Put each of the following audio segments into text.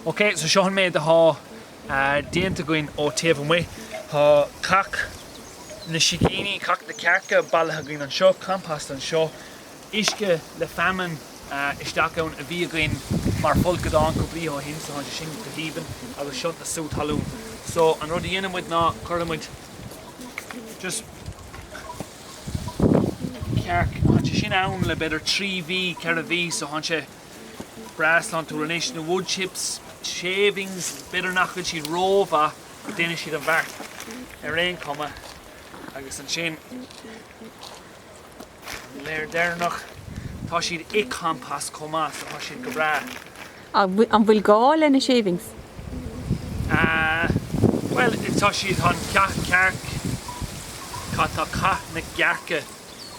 Ok, so seo an méid atá déanta againn ón taobh amuigh. Tá cac na sicíní, cac na cearca bailithe againn anseo, compost anseo, uisce le feamainn isteach ann a bhí againn mar fholcadán cúpla oíche ó shin so tá sé sin go haoibhinn agus seo na sú talún. So an rud a dhéanann muid ná cuireann muid just cac cearc, tá sé sin ann le b'fhéidir trí mhí, ceithre mhí so tá sé. breá sláintiúil anois, na wood chips, shavings, b'fhéidir nach bhfuil siad rómhaith ach déanfaidh siad an beart ar aon chuma agus ansin layer deireanach tá siad i compost chomh maith so tá siad go breá. An bhfuil gá le na shavings? Ahh bhuel tá siad an cearc, atá cac na gcearca?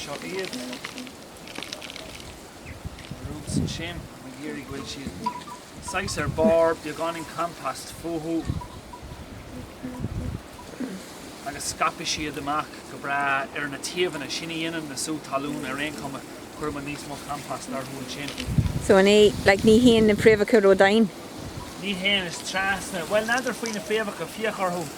Seo iad roots anseo. Tá mé ag iarraidh go mbeidh siad saghas ar barr beagáinín compost fúthu agus scaipfidh siad amach go breá ar na taobhanna. Sin a dhéanann na sú talún ar aon chuma, cuirim níos mó compost orthu ansin. So an é, like, ní théann na fréamhacha ródhomhain? Ní théann, is trasna. Bhuel, n'fheadar faoi na fréamhacha, fiach orthu.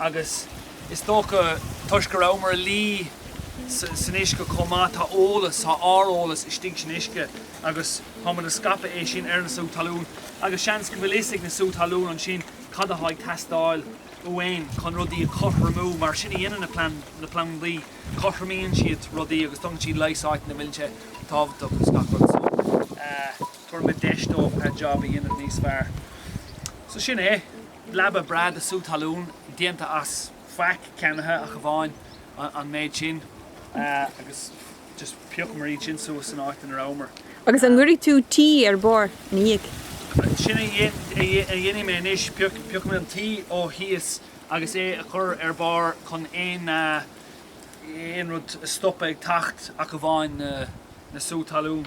Agus is dócha, toisc go rabhamar ag luí san uisce chomh maith, tá eolas, tá ár eolas istigh san uisce agus tá muid ag scaipeadh é sin ar na sú talún. Agus seans go bhfuil a fhios ag na sú talún ansin cad atá ag teastáil uainn chun rudaí a chothromú, mar sin a dhéanann na plandaí, cothromaíonn siad rudaí agus tugann siad leigheas áit ina bhfuil sé tábhachtach agus gach rud. So, tabharfaimid deis dóibh an jab a dhéanamh níos fearr. So sin é. leaba breá de sú talún déanta as faic ceannaithe ach amháin an méid sin agus just phiocamar iad sin suas san áit ina rabhamar. Agus an gcuirfidh tú tuí ar barr ina dhiaidh? Sin a dhéanfaidh mé anois, piocfaidh mé an tuí ó thíos agus é a chur ar barr chun aon aon rud a stopadh ag teacht ach amháin na sú talún.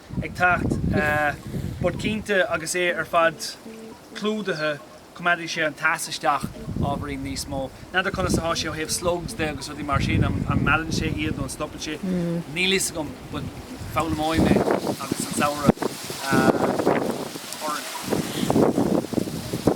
ag teacht but cinnte agus é ar fad clúdaithe coimeádfaidh sé an teas isteach ábhairín níos mó. N'fheadar conas atá sé ó thaobh slugs de agus rudaí mar sin, an meallann sé iad nó an stopann sé, níl fhios agam but foghlaimeoidh mé agus an samhradh orainn.